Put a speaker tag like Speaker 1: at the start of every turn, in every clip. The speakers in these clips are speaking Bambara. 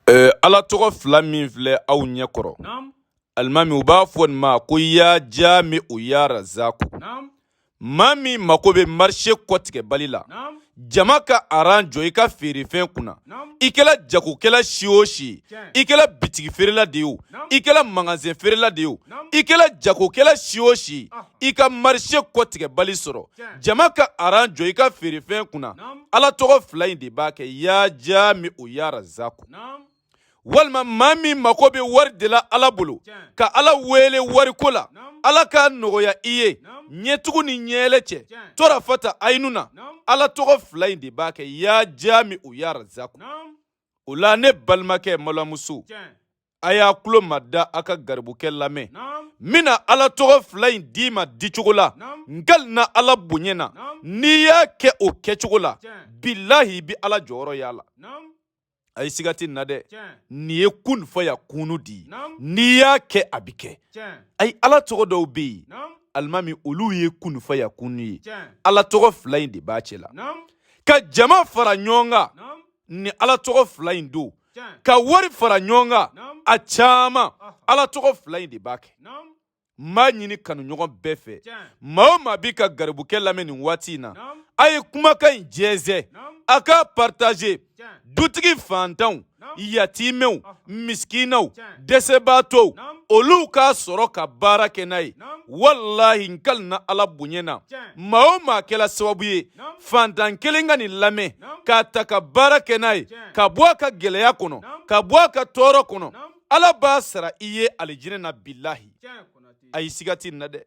Speaker 1: Ɛɛ ala tɔgɔ fila min filɛ aw ɲɛ kɔrɔ alimami u b'a fɔ nin ma ko ya jami u ya razaku maa min mako bɛ marise kɔtigɛbali la jama ka aran jɔ i ka feerefɛn kunna i kɛla jagokɛla si o si i kɛla bitigi feerela de ye o i kɛla magasin feerela de ye o i kɛla jagokɛla si o si i ka marise kɔtigɛbali sɔrɔ jama ka aran jɔ i ka feerefɛn kunna ala tɔgɔ fila in de b'a kɛ ya jami u ya razaku walima maa min mako bɛ wari de la ala bolo ka ala wele wariko la ala k'a nɔgɔya i ye ɲɛtugu ni ɲɛɛlɛ cɛ torafata ayinu na ala tɔgɔ fila in de b'a kɛ ya jami u ya razaku o la ne balimakɛ malamuso a y'a tulo mada a ka garibukɛ lamɛn min na ala tɔgɔ fila in d'i ma dicogo la n kalina ala bonya na n'i y'a kɛ o kɛcogo la bilahi i bɛ ala jɔyɔrɔ y'a la ayi siga tɛ n na dɛ nin ye kun fayakunu de ye n'i y'a kɛ a bɛ kɛ ayi ala tɔgɔ dɔw bɛ yen alimami olu ye kun fayakunu ye ala tɔgɔ fila in de b'a cɛ la ka jama fara ɲɔgɔn kan nin ala tɔgɔ fila in don ka wari fara ɲɔgɔn kan a caman ala tɔgɔ fila in de b'a kɛ n b'a ɲini kanuɲɔgɔn bɛɛ fɛ maa o maa b'i ka garibukɛ lamɛn nin waati in na a ye kumakan in jɛnsɛn a k'a partager dutigi fantanw yatimɛw misikinaw dɛsɛbaatɔw olu k'a sɔrɔ ka baara kɛ n'a ye walahi n kalina ala bonya na maa o maa kɛla sababu ye fantan kelen ka nin lamɛn k'a ta ka baara kɛ n'a ye ka bɔ a ka gɛlɛya kɔnɔ ka bɔ a ka tɔɔrɔ kɔnɔ ala b'a sara i ye alijinɛ na bilahi ayi siga tɛ n na dɛ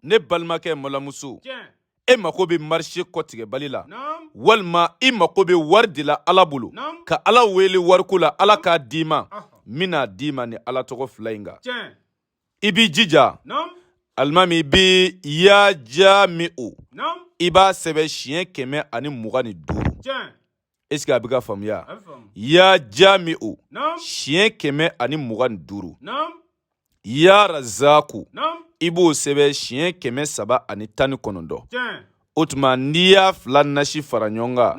Speaker 1: ne balimakɛ malamuso e mako bɛ marise kɔtigɛbali la walima i mako bɛ wari de la ala bolo ka ala wele wariko la ala k'a d'i ma min n'a d'i ma nin ala tɔgɔ fila in kan i b'i jija alimami i bɛ ya jami u i b'a sɛbɛn siɲɛ kɛmɛ ani mugan ni duuru est ce que a bɛ ka faamuya ya jami u siɲɛ kɛmɛ ani mugan ni duuru ya razaku i b'o sɛbɛn siɲɛ kɛmɛ saba ani tan ni kɔnɔntɔn o tuma n'i y'a fila nasi fara ɲɔgɔn kan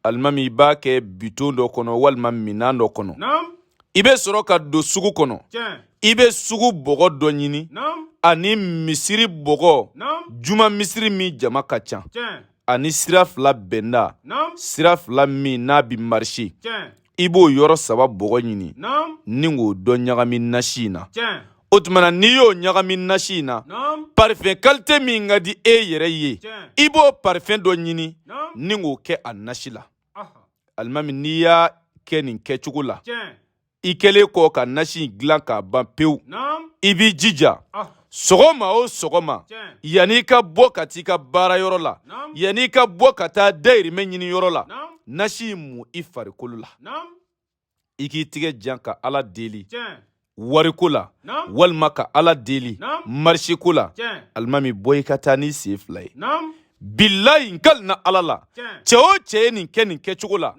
Speaker 1: alimami i b'a kɛ bidon dɔ kɔnɔ walima minan dɔ kɔnɔ i bɛ sɔrɔ ka don sugu kɔnɔ i bɛ sugu bɔgɔ dɔ ɲini ani misiri bɔgɔ juma misiri min jama ka ca ani sira fila bɛnda sira fila min n'a bɛ marise i b'o yɔrɔ saba bɔgɔ ɲini ni k'o dɔ ɲagami nasi in na o tuma na n'i y'o ɲagami nasi in na parifɛn kalite min ka di e yɛrɛ ye i b'o parifɛn dɔ ɲini ni k'o kɛ a nasi la alimami n'i y'a kɛ nin kɛcogo la i kɛlen kɔ ka nasi dilan k'a ban pewu i b'i jija sɔgɔma o sɔgɔma yanni i ka bɔ ka taa i ka baara yɔrɔ la yanni i ka bɔ ka taa dayirimɛ ɲini yɔrɔ la nasi in mu i farikolo la i k'i tigɛ jan ka ala deli wariko la walima ka ala deli mariseko la alimami bɔ i ka taa n'i sen fila ye bilayi n kalina ala la cɛ o cɛ ye nin kɛ nin kɛcogo la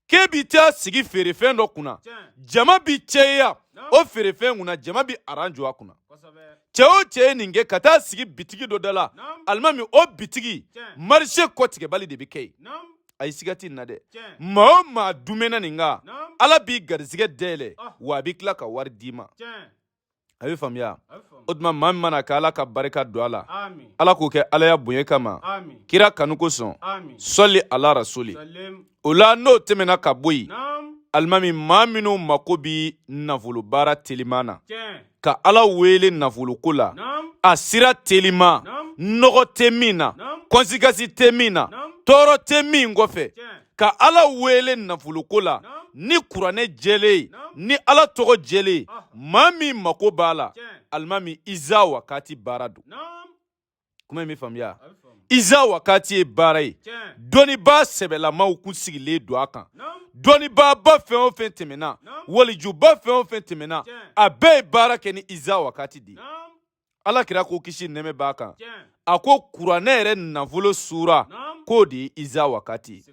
Speaker 1: k'e bi taa sigi feerefɛn dɔ kunna jama bi cɛya o feerefɛn kunna jama bi aran jɔ a kunna cɛ o cɛ ye nin kɛ ka taa sigi bitigi dɔ da la alimami o bitigi marise kɔtigɛbali de bɛ kɛ yen ayi siga t'in na dɛ maa o maa dumɛna nin kan ala b'i garizigɛ dayɛlɛ wa a bi tila ka wari d'i ma a bɛ faamuya o tuma maa min mana kɛ ala ka barika don a la ala k'o kɛ alaya bonya kama kira kanu kosɔn sɔli ala rasuli o la n'o tɛmɛna ka bɔ yen alimami maa minnu mako bɛ nafolobaara teliman na ka ala wele nafoloko la a sira teliman nɔgɔ tɛ min na kɔnsikasi tɛ min na tɔɔrɔ tɛ min kɔfɛ ka ala wele nafoloko la ni kuranɛ jɛlen ye ni ala tɔgɔ jɛlen ye maa min mako b'a la alimami iza wakati baara don kuma in bɛ faamuya iza wakati ye baara ye dɔnnibaa sɛbɛlamaw kun sigilen don a kan dɔnnibaaba fɛn o fɛn tɛmɛna walijuba fɛn o fɛn tɛmɛna a bɛɛ ye baara kɛ ni iza wakati de ye ala kira ko kisi nɛmɛ b'a kan a ko kuranɛ yɛrɛ nafolo sura k'o de ye iza wakati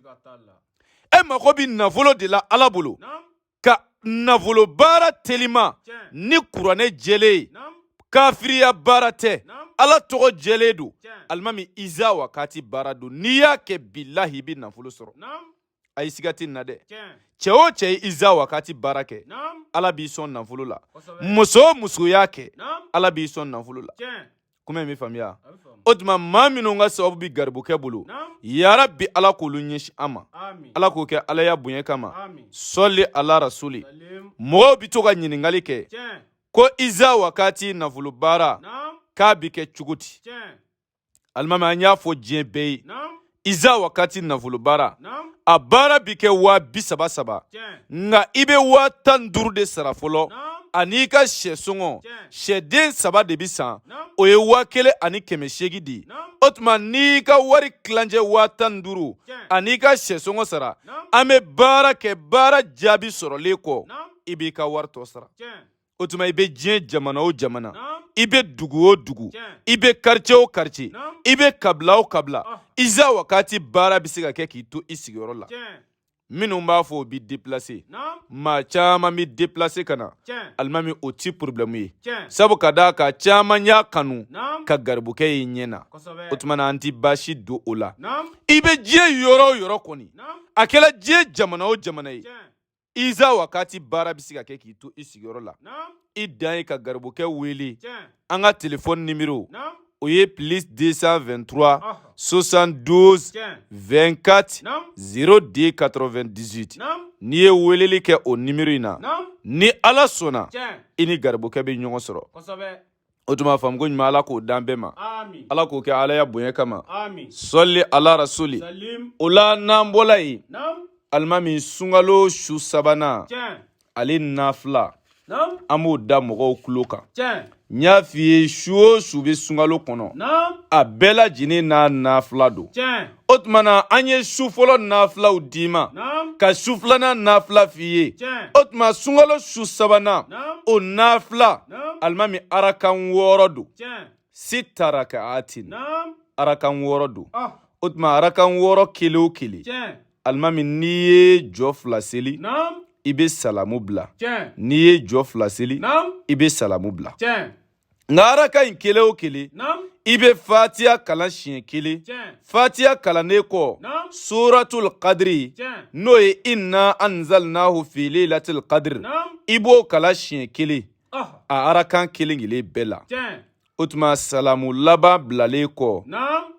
Speaker 1: e mago bi nafolo de la ala bolo ka nafolo baara telima ni kuranɛ jɛlen ye kafiriya baara tɛ ala tɔgɔ jɛlen don alimami iza wakati baara don n'i y'a kɛ bilahi i bi nafolo sɔrɔ ayi siga tɛ nin na dɛ cɛ o cɛ ye iza wakati baara kɛ ala b'i sɔn nafolo la muso o muso y'a kɛ ala b'i sɔn nafolo la kuma in bɛ faamuya o tuma maa minnu ka sababu bɛ garibukɛ bolo yarabi ala k'olu ɲɛsin an ma ala k'o kɛ alaya bonya kama sɔli ala rasuli mɔgɔw bɛ to ka ɲininkali kɛ ko iza wakati nafolo baara k'a bɛ kɛ cogo di alimami an y'a fɔ diɲɛ bɛɛ ye iza wakati nafolo baara a baara bi kɛ waa bi saba saba nka i bɛ waa tan ni duuru de sara fɔlɔ an'i ka sɛ sɔngɔ sɛden saba de bi san o ye waa kelen ani kɛmɛ seegin di o tuma n'i ka wari tilancɛ waa tan ni duuru an'i ka sɛ sɔngɔ sara an bɛ baara kɛ baara jaabi sɔrɔlen kɔ i b'i ka wari tɔ sara o tuma i bɛ diɲɛ jamana o jamana i bɛ dugu o dugu i bɛ karice o karice i bɛ kabila o kabila ah. iza wakati baara bɛ se ka kɛ k'i to i sigiyɔrɔ la minnu b'a fɔ o bɛ deplase maa caman bɛ deplase ka na alimami o ti porobilɛmu ye sabu ka d'a kan caman y'a kanu ka garibukɛ ye ɲɛ na o tuma na an ti baasi dɔn o la i bɛ diɲɛ yɔrɔ o yɔrɔ kɔni a kɛla diɲɛ jamana o jamana ye iza wakati baara bɛ se ka kɛ k'i to i sigiyɔrɔ la i dan ye ka garibukɛ wele an ka telefɔni nimero o ye plus 223 72 24 02 98 n'i ye weleli kɛ o nimero in na ni ala sɔnna i ni garibukɛ bɛ ɲɔgɔn sɔrɔ o tuma faamu ko ɲuman ala k'o d'an bɛɛ ma ala k'o kɛ alaya bonya kama sɔli ala rasulila n'an bɔla yen alimami sunkalo su sabanan ale nafila an b'o da mɔgɔw tulo kan n y'a f'i ye su o su bɛ sunkalo kɔnɔ a bɛɛ lajɛlen n'a nafila don o tuma na an ye su fɔlɔ nafilaw d'i ma ka su filanan nafila f'i ye o tuma sunkalo su sabanan o nafila alimami arakan wɔɔrɔ don sita raka'atin arakan wɔɔrɔ don ah. o tuma arakan wɔɔrɔ kelen o kelen alimami n'i ye jɔ fila seli i bɛ salamu bila n'i ye jɔ fila seli i bɛ salamu bila nka araka in kelen o kelen i bɛ fatiya kalan siɲɛ kelen fatiya kalannen kɔ suratul kadiri n'o ye inna anzalnahu fi lailatul qadr i b'o kalan siɲɛ kelen ah. a arakan kelen kelen bɛɛ la o tuma salamu laban bilalen kɔ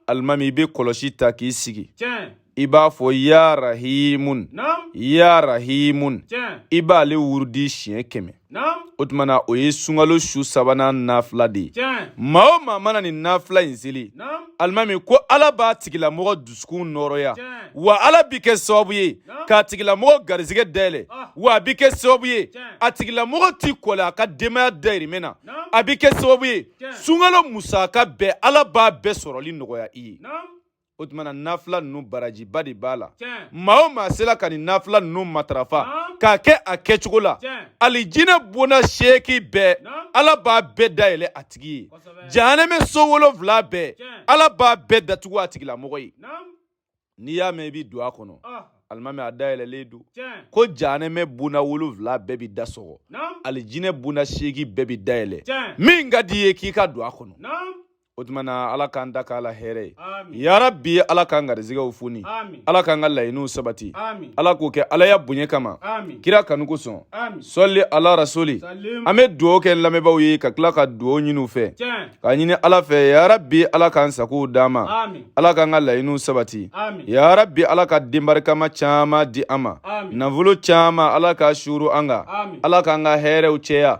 Speaker 1: alimami i bɛ kɔlɔsi ta k'i sigi i b'a fɔ ya rahimun ya rahimun i b'ale wurudi siɲɛ kɛmɛ o tuma na o ye sunkalo su sabanan nafila de ye maa o maa mana nin nafila in seli alimami ko ala b'a tigilamɔgɔ dusukun nɔɔrɔya wa ala bɛ kɛ sababu ye k'a tigilamɔgɔ garisɛgɛ dayɛlɛ ah. wa a bɛ kɛ sababu ye a tigilamɔgɔ ti kɔlɛ a ka denbaya dayirimɛ na a bɛ kɛ sababu ye sunkalo musaka bɛɛ ala b'a bɛɛ sɔrɔli nɔgɔya i ye o tuma na nafila ninnu barajiba de b'a la maa o maa sela ka nin nafila ninnu matarafa k'a kɛ a kɛcogo la alijinɛ bonda seeki bɛɛ ala b'a bɛɛ dayɛlɛ a tigi ye jahanɛmɛ so wolonfila bɛɛ ala b'a bɛɛ datugu a tigilamɔgɔ ye n'i y'a mɛn i bɛ don a kɔnɔ alimaana a dayɛlɛlen don ko jahanɛmɛ bonda wolonfila bɛɛ bɛ da sɔgɔ alijinɛ bonda seeki bɛɛ bɛ dayɛlɛ min ka di i ye k'i ka don a kɔnɔ o tuma na ala k'an dakan lahɛrɛya yarabi ala k'an garizigɛw foni ala k'an ka laɲiniw sabati ala k'o kɛ ala ya bonya kama kira kanu kosɔn sɔli ala rasuli an bɛ dugawu kɛ lamɛnbaaw ye ka tila ka dugawu ɲini u fɛ k'a ɲini ala fɛ yarabi ala k'an sagow d'an ma ala k'an ka laɲiniw sabati yarabi ala ka den barikama caman di an ma nafolo caman ala k'a suuru an kan ala k'an ka hɛrɛw cɛya